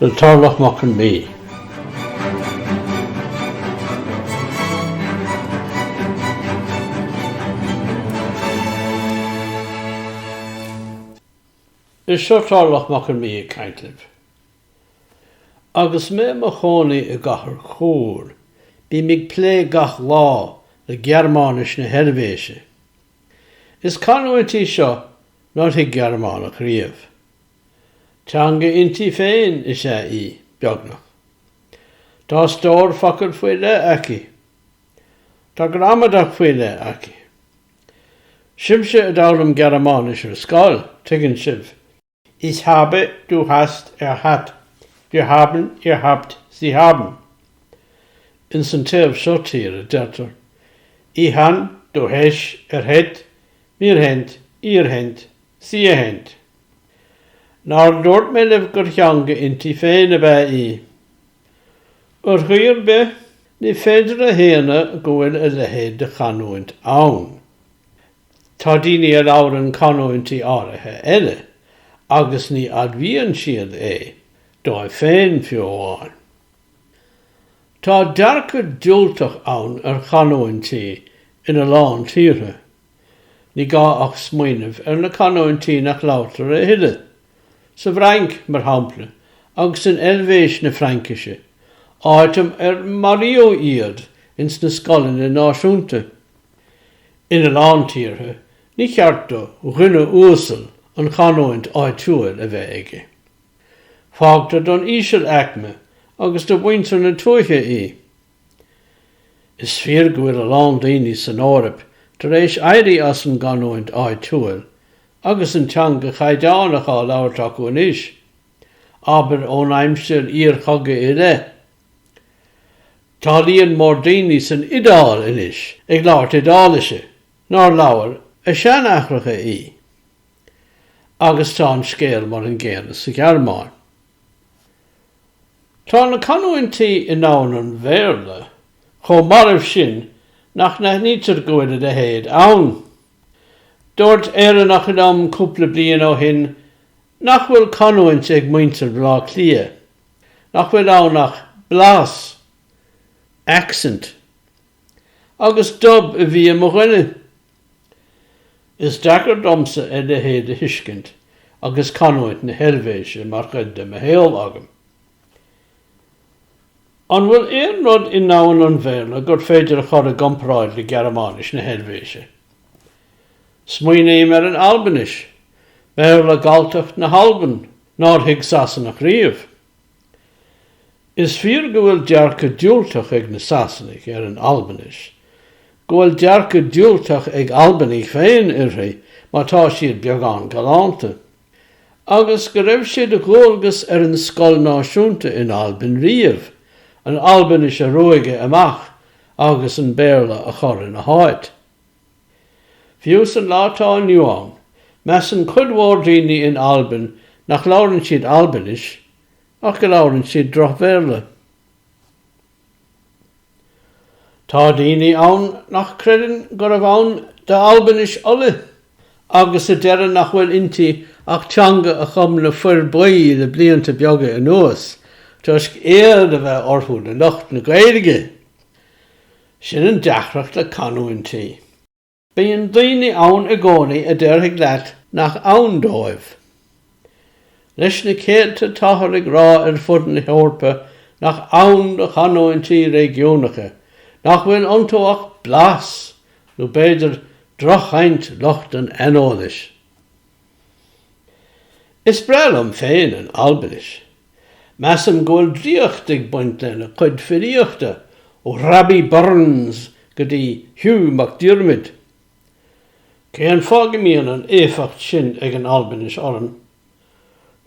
le Tarlach Mac Con Midhe. Is seo Tarlach Mac Con Midhe ag caint libh. Agus mé i mo chónaí i gcathair Chur, bím ag plé gach lá le Gearmáinis na hEilvéise. Is canúint í seo nár thuig Gearmánach riamh. Teanga inti féin is ea í, beagnach. Tá stór focal faoi leith aici. Tá gramadach faoi leith aici. Sibhse a d'fhoghlaim Gearmáinis ar scoil, tuigeann sibh, Ich habe, du hast, er hat, wir haben, ihr habt, sie haben. Ins an taobh seo tíre, deirtear, Ich han, du hesh, er het, mir hent, ihr hent, Sie hent. Nár dhúirt mé libh gur theanga inti féin ab ea í? Ar chaoi ar bith, ní féidir a shéanadh go bhfuil a leithéid de chanúint ann. Tá daoine a labhrann canúintí áirithe eile agus ní admhaíonn siad é, dóibh féin fiú amháin. Tá dearcadh diúltach ann ar chanúintí ina lán tíortha. Ní gá ach smaoineamh ar na canúintí nach labhartar a thuilleadh, sa bhFrainc, mar shampla, agus in Eilvéis na Fraincise, áit inar maraíodh iad ins na scoileanna náisiúnta. Ina lán tíortha, ní ceart do dhuine uasal an chanúint áitiúil a bheith aige. Fágtar don ísealaicme agus do mhuintir na tuaithe í. Is fíor go bhfuil a lán daoine san Eoraip tar éis éirí as an gcanúint áitiúil agus an teanga chaighdeánach á labhairt acu anois, abair ón aimsir iarchogaidh i leith. Tá líon mór daoine san Iodáil anois ag labhairt Iodáilise nár labhair a seanaithreacha í. Agus tá an scéal mar an gcéanna sa Ghearmáin. Tá na canúintí i ndomhan an Bhéarla chomh marbh sin nach n-aithnítear go bhfuil a leithéid ann. Dúirt Éireannach liom cúpla bliain ó shin nach bhfuil canúint ag muintir Bhleá Cliath, nach bhfuil ann ach blas, accent. Agus 'dub' a bhí i mo dhuine. Is deacair domsa a leithéid a thuiscint agus canúint na hEilvéise mar chuid de mo shaol agam. An bhfuil aon rud i ndomhan an Bhéarla gur féidir a chur i gcomparáid le Gearmáinis na hEilvéise? Smaoiním ar an Albainis, Béarla Galltacht na hAlban nár thuig Sasanach riamh. Is fíor go bhfuil dearcadh diúltach ag na Sasanaigh ar an Albainis, go bhfuil dearcadh diúltach ag Albanaigh féin uirthi má tá siad beagán galánta, agus go raibh sé de dhualgas ar an scoil náisiúnta in Albain riamh an Albainis a ruaigeadh amach agus an Béarla a chur ina háit. Fiú san lá atá inniu ann, measann cuid mhór daoine in Albain nach labhrann siad Albainis ach go labhrann siad droch-Bhéarla. Tá daoine ann nach creideann gurbh ann d'Albainis Uladh agus a deireann nach bhfuil inti ach teanga a chum na Fir Buí le blianta beaga anuas toisc éad a bheith orthu le lucht na Gaeilge! Sin an deacracht le canúintí. Bíonn daoine ann i gcónaí a déarfaidh leat nach ann dóibh. Leis na céadta táthar ag rá ar fud na hEorpa nach ann do chanúintí réigiúnacha, nach bhfuil iontu ach blas nó b'fhéidir drochchaint lucht an aineolais. Is breá liom féin an Albainis. Measaim go bhfuil draíocht ag baint lena cuid filíochta, ó Rabbie Burns go dtí Hugh MacDiarmid. Cén fáth go mbíonn an éifeacht sin ag an Albainis orm?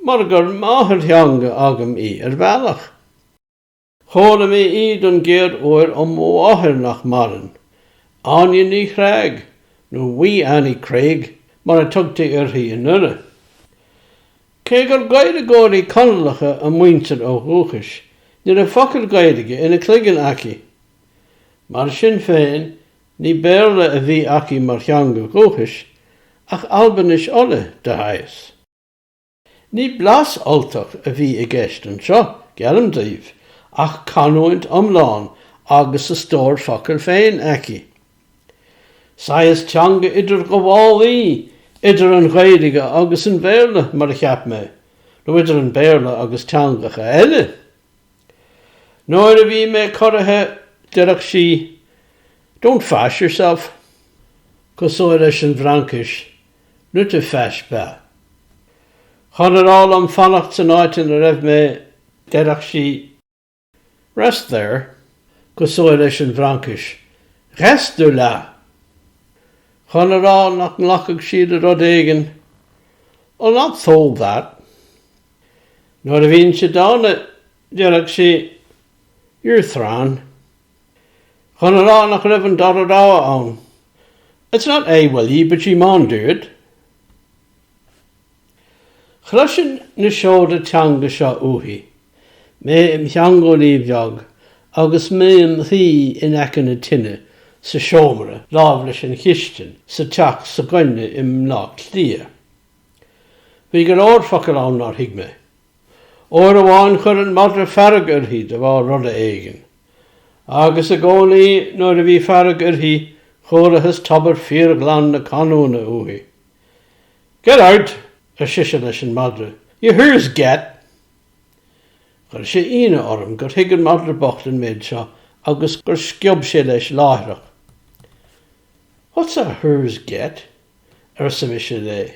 Mar gur máthairtheanga agam í ar bhealach. Chuala mé í don gcéad uair ó mo mháthair nach maireann, Áine Ní Chreag, nó Wee Annie Craig mar a tugtaí uirthi i nDoire. Cé gur Gaeilgeoirí Conallacha a muintir ó dhúchas, ní raibh focal Gaeilge ina cloigeann aici. Mar sin féin, ní Béarla a bhí aici mar theanga dhúchais, ach Albainis Uladh, de shaghas. Ní blas Ultach a bhí i gceist anseo, geallaim daoibh, ach canúint iomlán agus a stór focal féin aici. Saghas teanga idirghabhálaí idir an Ghaeilge agus an Béarla, mar a cheap mé, nó idir an Béarla agus teangacha eile. Nuair a bhí mé corraithe, deireadh sí, Don't fash yourself. Cosúil leis an bhFraincis, n'te fash pas. Chun a rá liom fanacht san áit ina raibh mé, déarfadh sí Rest there, cosúil leis an bhFraincis Reste là! Chun a rá nach nglacfadh sí le rud éigin, I'll not thole that. Nuair a bhínnse dána, déarfadh sí You're thrawn, chun a rá nach raibh an dara rogha ann, It's not will ye, but ye maun do it. Chloisinn na seoda teanga seo uaithi, mé im theangeolaí bheag agus mé im shuí in aice na tine sa seomra láimh leis an chistin sa teach s'againne i mBleá Cliath. Bhí go leor focal ann nár thuig mé. Uair amháin chuir an madra fearg uirthi de bharr rud éigin, agus i gcónaí nuair a bhí fearg uirthi chualathas tobar fíorghlan na canúna uaithi. Get oot! ar sise leis an madra, ye hoor's get! Chuir sé ionadh orm gur thuig an madra bocht an méid seo agus gur sciob sé leis láithreach. What's a hoor's get? arsa mise léi.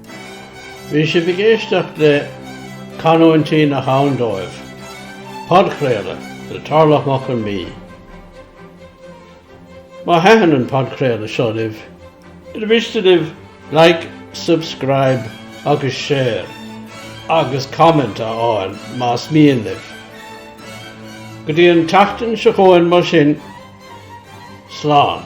Bhí sibh ag éisteacht le Canúintí nach ann dóibh, podchraoladh le Tarlach Mac Con Mí. Má thaitin an podchraoladh seo libh, ar mhiste libh Like, Subscribe agus Share agus Comment a fhágáil más mian libh? Go dtí an tseachtain seo chugainn mar sin, slán!